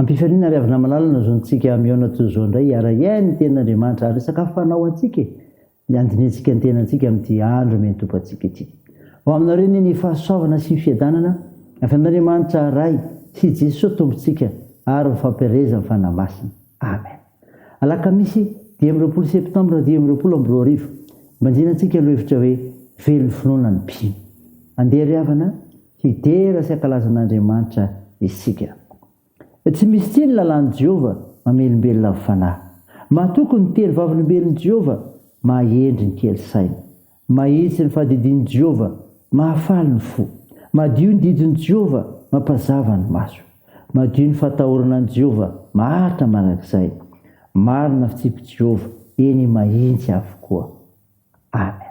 Am-pifaliana ary avy namalala ny zontsika hameona toy izao indray hiara-hiaina ny Tenin'Andriamanitra ary sakafo fanao ho antsika e! dia handinihantsika ny tenantsika amin'ity andro miantompantsika ity. Ho aminareo anie ny fahasoavana sy fiadanana avy amin'Andriamanitra Ray sy Jesoa Tompontsika ary ny fampielezan'ny Fanahy Masina. Amen. Alakamisy dimy amby roapolo septambra dimy amby roapolo amby roa arivo, manjinantsika ny lohahevitra hoe Velon'ny Finoana ny Mpino. Andeha ry havana a! hidera sy hankalaza an'Andriamanitra isika. Tsy misy tsihy ny lalàn'i Jehovah, mamelombelona amin'ny fanahy. Matoky ny telo Vavolombelon'i Jehovah, mahendry ny kely saina. Mahitsy ny fahadidian'i Jehovah, mahafaly ny fo. Madio ny didin'i Jehovah, mampazava ny maso. Madio ny fahatahorana an'i Jehovah, maharitra mandrakizay. Marina ny fitsipik'i Jehovah, eny, mahitsy avokoa. Amen.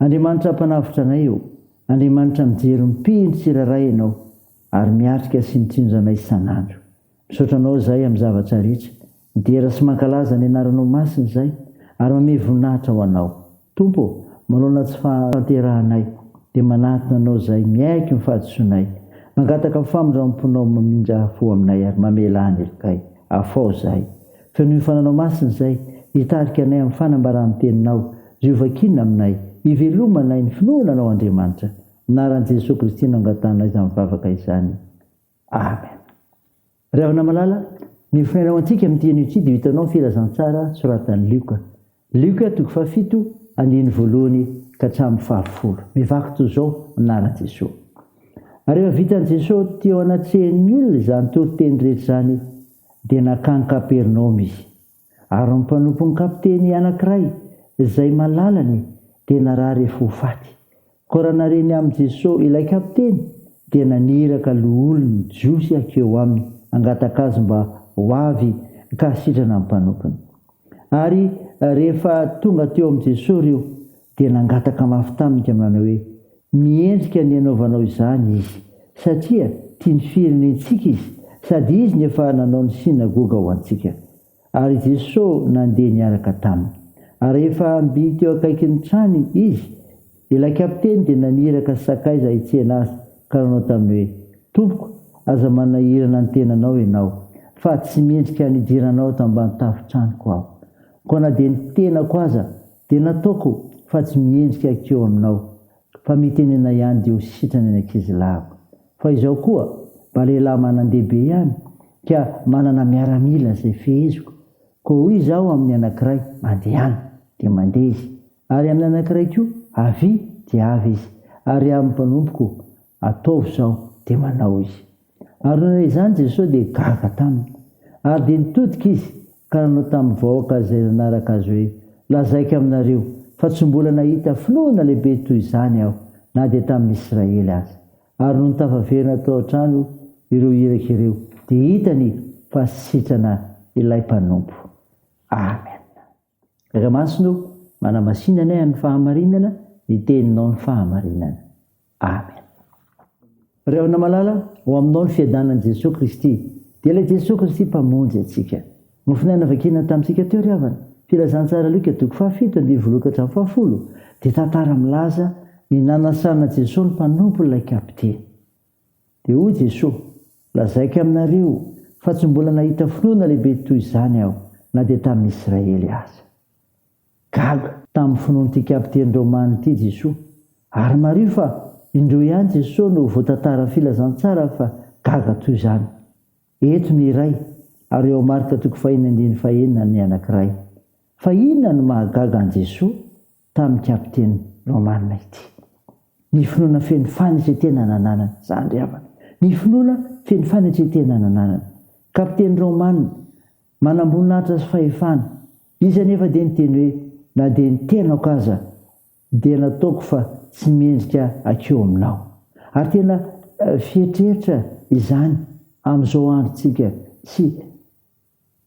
Andriamanitra Mpanavotra anay ô, Andriamanitra mijery mpihy ny tsirairay Ianao ary miatrika sy mitsinjo anay isan'andro. Misaotra Anao izahay amin'ny zavatra rehetra, midera sy mankalaza ny Anaranao Masina izahay ary mamehy voninahitra ho Anao. Tompo ô, manoloana tsy fahaterahanay dia manatona Anao izahay, miaiky ny fahadisoanay, mangataka ny famindramponao mamindra fo aminay ary mamela anelokay. Afaho izahay. Fenoy ny Fananao Masina izay hitarika anay amin'ny fanambaran'ny Teninao. Jehovah kiana aminay. Hiveloma anay ny finoana Anao Andriamanitra. Amin'ny anaran'i Jesoa Kristy no angatanay izany vavaka izany. Amen. Ry havana malala, ny fonenao antsika amin'ity anio ity dia ho hitanao ny filazantsara soratan'i Lioka. Lioka toko fahafito andininy voalohany ka hatramin'ny fahafolo. Mivaky toy izao ny naran'i Jesoa. Ary rehefa vitan'i Jesoa teo anatrehan'ny olona izany toriteny rehetra izany dia nankany Kapernaomy Izy. Ary ny mpanompon'ny kapiteny anankiray izay malalany dia narary efa ho faty, Koa raha nareny amin'i Jeso ilay kapiteny, dia naniraka loholon'ny Jiosy hakeo aminy hangataka azy mba ho avy ka hasitrana ny mpanompony. Ary rehefa tonga teo amin'i Jeso ireo, dia nangataka mafy taminy ka manao hoe, Miendrika ny hanaovanao izany izy, satria tia ny firenentsika izy, sady izy no efa nanao ny synagoga ho antsika. Ary Jesosy nandeha niaraka taminy. Ary rehefa mby teo akaikin'ny trany Izy, ilay kapiteny dia naniraka sakaiza hitsena Azy, ka nanao taminy hoe, Tompoko, aza manahirana ny tenanao Ianao, fa tsy mendrika ny hidiranao ato ambany tafon-tranoko aho. Koa na dia ny tenako aza dia nataoko fa tsy miendrika hakeo aminao. Fa mitenena ihany dia ho sitrana ny ankizilahiko. Fa izao koa, mba lehilahy manan-dehibe ihany, ka manana miaramila izay feheziko. Koa hoy izaho amin'ny anankiray, Mandehana! dia mandeha izy, ary amin'ny anankiray koa, Avia! dia avy izy, ary amin'ny mpanompoko, Ataovy izao! dia manao izy. Ary nony izany Jesosy dia gaga taminy. Ary dia nitodika Izy ka nanao tamin'ny vahoaka izay nanaraka Azy hoe, Lazaiko aminareo, fa tsy mbola nahita finoana lehibe toy izany aho, na dia tamin'ny Israely aza. Ary nony tafaverina tao an-trano ireo iraka ireo, dia hitany fa sitrana Ilay Mpanompo. Amen. Ra masina o manamasinanay an'ny fahamarinana ny teninao ny fahamarinana Amen. Ry havana malala, ho aminao ny fiadanan'i Jesoa Kristy, dia ilay Jesoa Kristy Mpamonjy antsika. Nofonay navakina tamintsika teo ry havana, Filazantsara Luka toko fahafito andininy voaloha ka hatramin'ny fahafolo, dia tantara milaza ny nanasana Jesoa ny mpanompon'ilay kapiteny. Dia hoy Jesoa, Lazaiko aminareo, fa tsy mbola nahita finoana lehibe toy izany aho, na dia tamin'ny Israely aza. Gag. Tamin'ny finoan'ity kapiteny romana ity Jesoa. Ary mariho fa indroa ihany Jesoa no voatantara Filazantsara fa gaga toy izany. Eto ny iray, ary ao Marka toko fahiny andininy fahenina ny anankiray. Fa inona no mahagaga an'i Jesoa? tamin'ny kapiteny Romanina ity. Ny finoana feno fanetren-tena nananany, izany ry havana. Ny finoana feno fanetren-tena nananany. Kapiteny Romanina, manamboninahitra sy fahefana. Izy anefa dia niteny hoe, Na dia ny tenako aza dia nataoko fa tsy mendrika hakiho aminao. Ary tena fiheritreritra izany amin'izao androntsika sy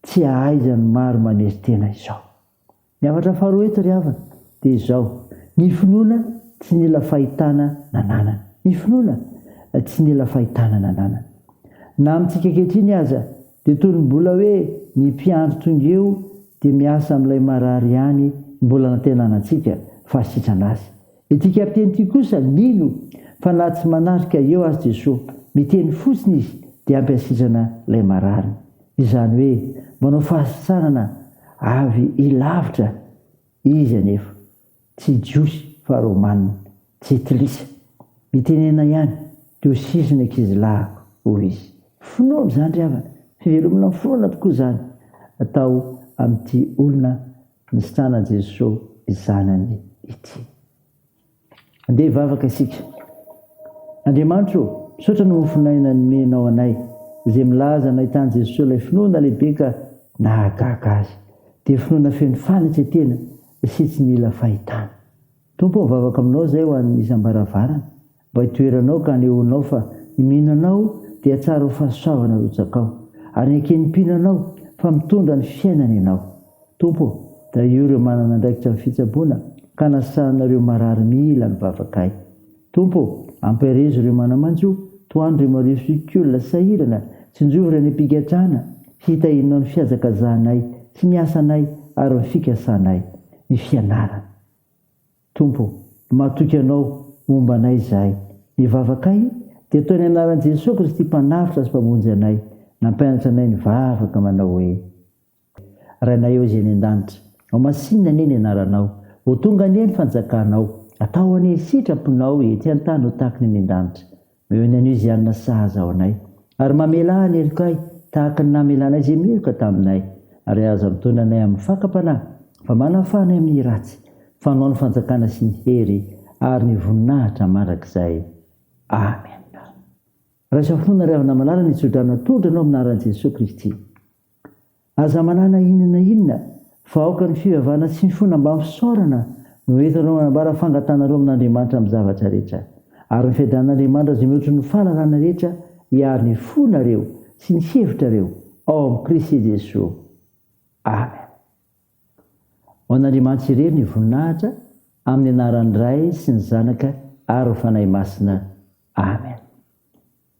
Tsy hahaizan'ny maro manery tena izao. Ny hafatra faharoa eto ry havana dia izao, ny finoana tsy nila fahitana nananana. Ny finoana tsy nila fahitana nananana. Na amintsika ankehitriny aza dia toy ny mbola hoe ny mpiandry tonga eo dia miasa amin'ilay marary ihany mbola anantenanantsika fa sitrana azy. Ity kapiteny ity kosa mino fa na tsy manatrika eo aza Jesoa, miteny fotsiny izy dia ampy asitrana ilay marary. Izany hoe manao fahasitranana avy lavitra izy anefa. Tsy jiosy fa romana, jentilisa. Mitenena ihany diosisy ny ankizilahiko, hoy izy. Finoana izany ry havana, fivelomana amin'ny finoana tokoa izany atao amin'ity olona Nisitrana Jeso i Zanany ity. Andeha hivavaka isika. Andriamanitro ô, misaotra noho ny fon'aina nomenao anay, izay milaza nahitany Jeso ilay finoana lehibe ka nahagaga azy. Dia finoana feno fanetretena sy tsy nila fahitana. Tompo ô, mivavaka aminao izay ho an'ny isam-baravarana. Mba itoeranao ka anehoanao fa ny mihinanao dia tsara ho fahasoavana arotsakao, ary ny eken'ny mpihinanao fa mitondra ny fiainana ianao. Tompo ô, tahio ireo manana andraikitra amin'ny fitsaboana ka anasana ireo marary mila ny vavakay. Tompo ô, ampaherezo ireo manamanjo, tohano ireo mariofioky olona sahirana, tsinjovy ireo any am-pigadrana, hitahianao ny fihazakazahanay sy ny asanay ary ny fikasanay, ny fianarana. Tompo ô, matoky Anao, homba anay izahay. Ny vavakay dia toy ny anaran'i Jesoa Kristy Mpanavotra sy Mpamonjy anay, nampianatra anay nivavaka manao hoe, Rainay Ao Izay any An-danitra, ho masinina anie ny Anaranao, ho tonga anie ny Fanjakanao, atao anie ny sitraponao ety an-tany ho tahaka ny any An-danitra. Noho ny Anosianina sahaza ao anay. Ary mamelà ny helokay, tahaka ny namelanay izay meloka taminay. Ary aza mitondra anay amin'ny fakam-panahy, fa manafaha anay amin'ny ratsy, fa anao ny fanjakana sy ny hery ary ny voninahitra mandrakizay. Amena. Raiso fo nareo havana malala ny tsodrano natolotra anao amin'ny anaran'i Jesoa Kristy. Aza manana inona na inona fa aoka ny fivavahana tsy mifona mbamin'ny fisaorana no entinareo manambara fangatanareo amin'Andriamanitra amin'ny zavatra rehetra. Ary ny fiadanan'Andriamanitra izay mihoatry ny fahalalana rehetra hiaro ny fonareo sy ny hevitrareo ao amin'i Kristy Jesoa. Amen. Ho an'Andriamanitra irery ny voninahitra amin'ny anaran'ny Ray sy ny Zanaka ary ny Fanahy Masina. Amen.